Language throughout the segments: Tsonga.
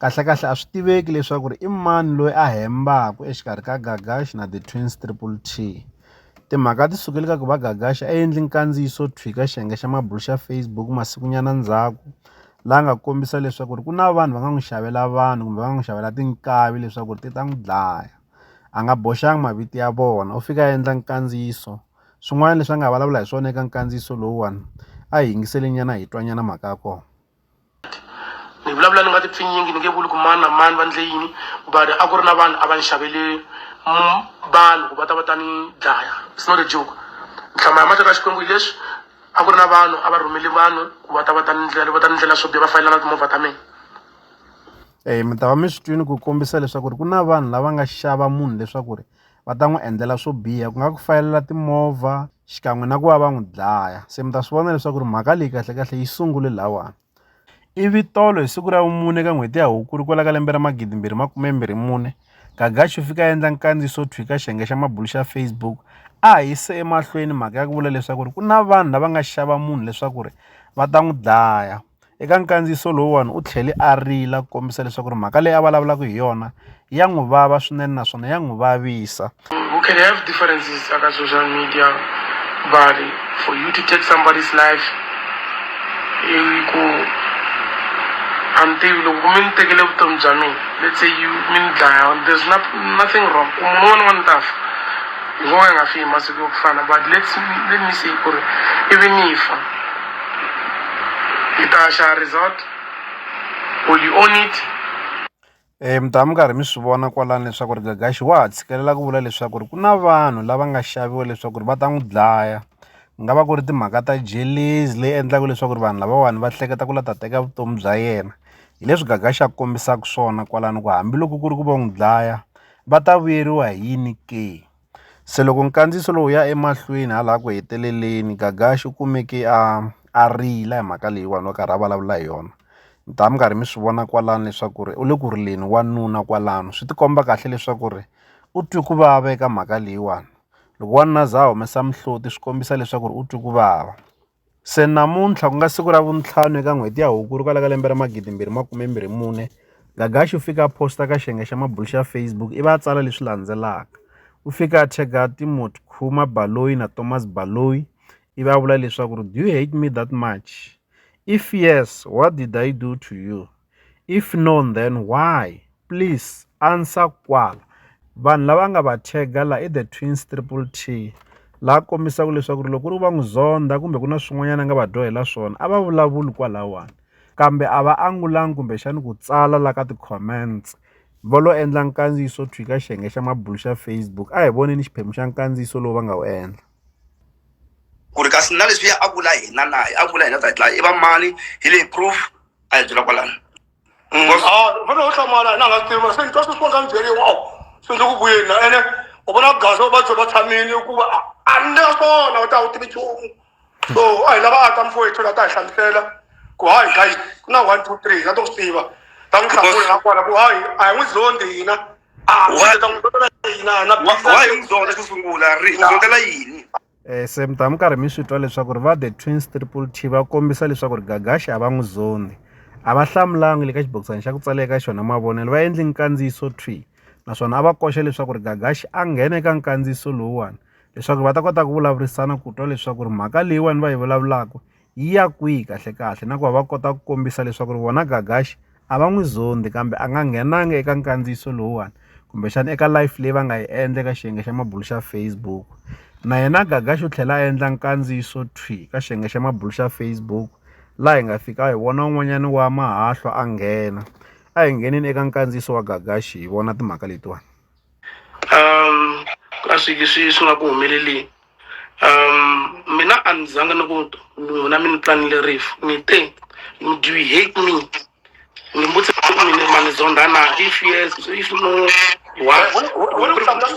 Kahlekahle a swi tiveki leswaku i mani loyi a hembaka exikarhi ka Gagashi na The Twins Triple T. Timhaka ti sukele ka ku va Gagashi a endle nkandziyiso thwi ka xiyenge xa mabulo xa Facebook masikunyana ndzhaku, laha nga kombisa leswaku ku na vanhu va nga n'wi xavela vanhu kumbe va nga n'wi xavela tinkavi leswaku ti ta n'wi dlaya. A nga boxanga mavito ya vona, u fike a endla nkandziyiso. Swin'wana leswi a nga vulavula hi swona eka nkandziyiso lowuwani a hi yingiseli nyana hi twa nyana mhaka ya kona. ni vulavula ni nga ti pfinyingi ni nge vuli ku mani na mani va ndle yini but a ku ri na vanhu a va ni xavele mm, vanhu ku va ta va ta ni dlaya it's not a joke nhlama ya matata xikwembu hi leswi a ku ri na vanhu a va rhumele vanhu ku va ta va ta ni ndlela va ta ni ndlela swo biha va fayelana timovha ta mina um mi ta va mi swi twini ku kombisa leswaku ri ku na vanhu lava nga xava munhu leswaku ri va ta n'wi endlela swo biha ku nga ku fayelela timovha xikan'we na ku va va n'wi dlaya se mi ta swi vona leswaku ri mhaka leyi kahlekahle yi sungule lawani ivi tolo hi siku ra vumune ka n'hweti ya hukuri kwala ka lembe ra magidi mbirhi makume mbirhi mune gagaxi u fika a endla nkandziso thwi ka xiyenge xa mabulu xa facebook a hi yise emahlweni mhaka ya ku vula leswaku ri ku na vanhu lava nga xava munhu leswaku ri va ta n'wi dlaya Eka nkandziyiso lowuwani u tlhele a rila ku kombisa leswaku ri mhaka leyi a vulavulaka hi yona ya n'wi vava swinene naswona ya n'wi vavisa. You can have differences aka social media but for you to take somebody's life i ku a ni tivi loko mi ni tekele vutomi bya mina let's say you mi ni dlaya there's not, nothing wrong ku munhu un'wana un'wana ni ta fa hi ngo ka hi nga fi hi masiku yo ku fana but let's let me say ku ri ivi ni fa. Hi ta xa resort will you own it eh, mi ta mi karhi mi swi vona kwalani leswaku ri gagaxi wa ha tshikelela ku vula leswaku ri ku na vanhu lava nga xaviwa leswaku ri va ta n'wi dlaya ku nga va ku ri timhaka ta jelezi leyi endlaka leswaku ri vanhu lavawani va hleketa ku la ta teka vutomi bya yena hi leswi gagaxi a kombisaka swona kwalano ku hambiloko ku ri ku va n'wi dlaya va ta vuyeriwa hi yini ke Se loko nkandziyiso lowu wu ya emahlweni hala ku heteleleni Gagash u kumeke a a rila hi mhaka leyiwani a karhi a vulavula hi yona mi ta va mi karhi mi swi vona kwalano leswaku ri u le ku rileni wanuna kwalano swi ti komba kahle leswaku ri u twe ku vava eka mhaka leyiwani loko wanuna a za a humesa mihloti swi kombisa leswaku ri u twe ku vava. Se namuntlha ku nga siku ra vuntlhanu eka n'hweti ya Hukuri kwala ka lembe ra magidi mbirhi makume mbirhi mune, Gagashi u fike a posta ka xiyenge xa mabulo xa Facebook ivi a tsala leswi landzelaka, U fike a tag-a Timothy Khuma Baloyi na Thomas Baloyi ivi a vula leswaku, Do you hate me that much? If yes, what did I do to you? if no then why please answer kwala vanhu lava nga va tag-a la i the twins triple T la kombisaka leswaku ri loko ku ri va n'wi zonda kumbe ku na swin'wanyana a nga va dyohela swona a va vulavuli kwalawani kambe a va angulanga kumbexana ku tsala la ka ti-comments va lo endla nkandziyiso to fika xiyenge xa mabulo xa Facebook a hi voneni xiphemu xa nkandziyiso lowu va nga wu endla ku ri kasi na leswiya a vula hina na a vula hina ta dlaya i va mani hi leyi proof a hi byela kwalano mm. because a fane u hlamala na nga swi tivi mara se ni twa swi swi nga ni byeriwa wow se ndzi ku vuyeni na ene u vona gaza va byo va tshamile hikuva a ni na swona u ta u tivi nchumu so a hi lava a ta mfowethu la ta hi hlamusela ku hayi guys ku na one two three na to swi tiva ta n'wi hlamula na kona ku hayi a hi n'wi zondi hina a ta n'wi zondela hina na why u zonda xo sungula ri zondela yini Eh, se mi ta mi karhi mi swi twa leswaku ri va the twins triple t va kombisa leswaku ri gagaxi a va n'wi zondi a va hlamulanga le ka xibokisana xa ku tsala eka xona mavonelo va endli nkandziyiso twi naswona a va koxa leswaku ri gagaxi a nghena eka nkandziyiso lowuwani leswaku va ta kota ku vulavurisana ku twa leswaku ri mhaka leyiwani va yi vulavulaka yi ya kwihi kahlekahle na ku va va kota ku kombisa leswaku ri vona Gagash a va n'wi zondhi kambe a nga nghenanga eka nkandziyiso lowuwani kumbexana eka live leyi va nga yi endla eka xiyenge xa mabulu xa Facebook na yena Gagash u tlhela a endla nkandziyiso thwi ka xiyenge xa mabulu xa Facebook laha hi nga fika hi vona un'wanyana wa mahahlo a nghena a hi ngheneni eka nkandziyiso wa Gagash hi vona timhaka letiwani. um a swi swi swi nga ku humeleleni um mina a ni zanga ni ku n'wina mi ni tlanile rifu ni te do you hate me ni mbutse ku mina ma ni zonda na if yes if no why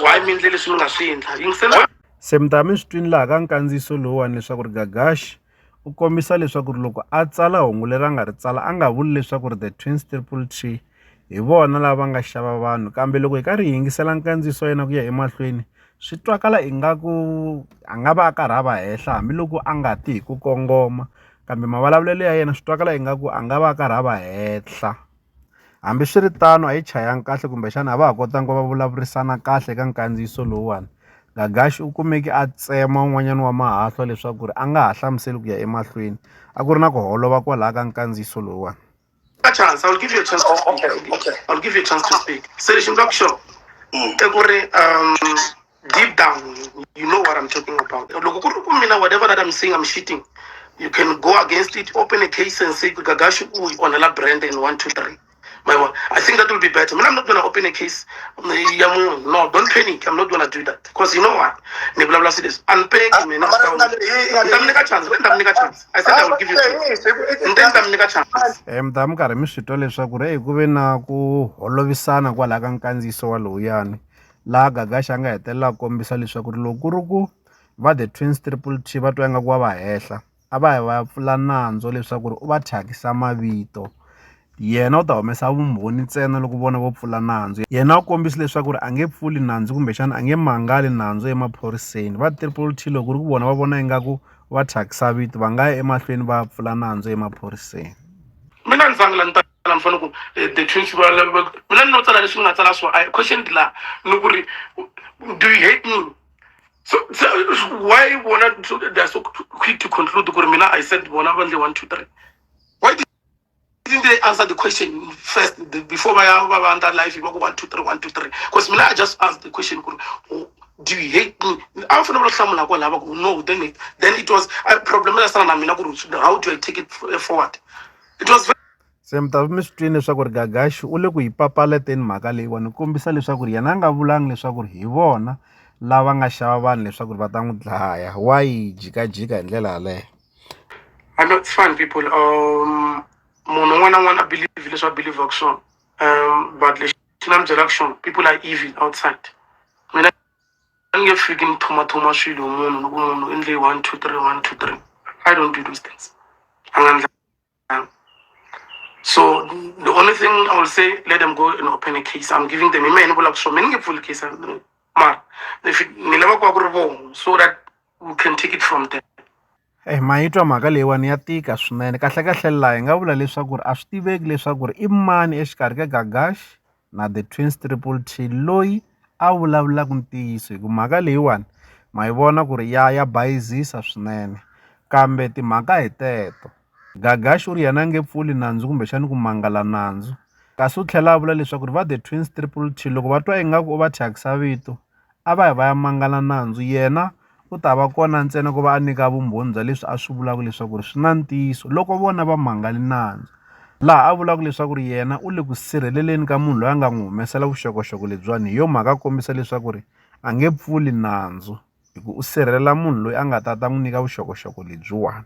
why mi endle leswi mi nga swi endla yingisela se mi ta mi swi twini laha ka nkandziyiso lowuwani leswaku ri gagaxi u kombisa leswaku ri loko a tsala hungu leri a nga ri tsala a nga vuli leswaku ri The Twins Triple T hi vona lava nga xava vanhu kambe loko hi karhi hi yingisela nkandziyiso wa yena ku ya emahlweni swi twakala ingaku a nga va a karhi a va henhla hambiloko a nga ti hi ku kongoma kambe mavulavulelo ya yena swi twakala ingaku a nga va a karhi a va henhla. Hambiswiritano, a yi chayanga kahle kumbexana a va ha kotanga ku va vulavurisana kahle eka nkandziyiso lowuwani. Gagash u kumeke a tsema un'wanyana wa mahahlwa leswaku a nga ha hlamuseli ku ya emahlweni. A ku ri na ku holova kwalaho ka nkandziyiso lowuwani. deep down you, you know what i'm talking about loko ku ri ku mina whatever that i'm saying i'm shitting you can go against it open a case and say gagashi u yi onhela brand in one two three my one i think that will be better mina i'm not gonna open a case um, ya munhu no don't panic i'm not gonna do that because you know what ni vulavula si leswi a ni pengi mina mara ku nga le- yi- yi nga ni le- ta mi nyika chance ni ta mi nyika chance i said i will give you a chance ni te ni ta mi nyika chance um ta mi karhi mi swi twa leswaku ri eku ve na ku holovisana kwalaha ka nkandziyiso wa lowuyani laha Gagashi a nga hetelela a kombisa leswaku ri loko ku ri ku va The Twins Triple T va twa ingaku wa va hehla a va yi va ya pfula nandzu leswaku ri u va thyakisa mavito yena u ta humesa vumbhoni ntsena loko vona vo pfula nandzu yena u kombisa leswaku ri a nge pfuli nandzu kumbexana a nge mangali nandzu emaphoriseni va Triple T loko ku ri ku vona va vona ingaku va thyakisa vito va nga ya emahlweni va ya pfula nandzu emaphoriseni mina ni . ni fanele ku eh, the twins va mina ni no tsala leswi ni nga tsala swo i questioned la ni ku ri do you hate me so, so why vona so they are so quick to conclude ku ri mina i said bona va ndle one two three why didn't they answer the question first the, before va ya va va ndla life va ku one two three one two three because mina i just asked the question ku ri oh, do you hate me a va fanele va hlamula ko lava ku no then it, then it was a problem la sana na mina ku ri how do i take it forward se mi ta mi swi twini leswaku ri gagaxi u le ku yi papaleteni mhaka leyiwani ni kombisa leswaku ri yena a nga vulangi leswaku ri hi vona lava nga xava vanhu leswaku ri va ta n'wi dlaya wa yi jikajika hi ndlela yaleyo I know it's fine people um munhu un'wana na un'wana a believe leswi a believaka swona um but lexi na mi byelaka xona people are evil outside mina a ni nge fiki ni thomathoma swilo hi munhu ni ku munhu u endle one two three one two three i don't do those things a nga ndla so the only thing i will say let them go and open a case i'm giving them hi mehe ni vulaka swona mi ni nge pfuli case mara ni lava ku va ku ri vona so that we can take it from there Eyi ma yi twa mhaka leyiwani ya tika swinene kahlekahle laha hi nga vula leswaku a swi tiveki leswaku i mani exikarhi ka Gagash na The Twins Triple T loyi a vulavulaka ntiyiso hi ku mhaka leyiwani ma yi vona ku ri ya ya bayizisa swinene kambe timhaka hi teto Gagash u ri yena a nge pfuli nandzu kumbexana ku mangala nandzu kasi u tlhela a vula leswaku ri va The Twins Triple T loko va twa ingaku u va thyakisa vito a va yi va ya mangala nandzu yena u ta va kona ntsena ku va a nyika vumbhoni bya leswi a swi vulaka leswaku ri swi na ntiyiso loko vona va mangale nandzu laha a vulaka leswaku ri yena u le ku sirheleleni ka munhu loyi a nga n'wi humesela vuxokoxoko lebyiwani hi yo mhaka a kombisa leswaku ri a nge pfuli nandzu hi ku u sirhelela munhu loyi a nga ta ta n'wi nyika vuxokoxoko lebyiwani.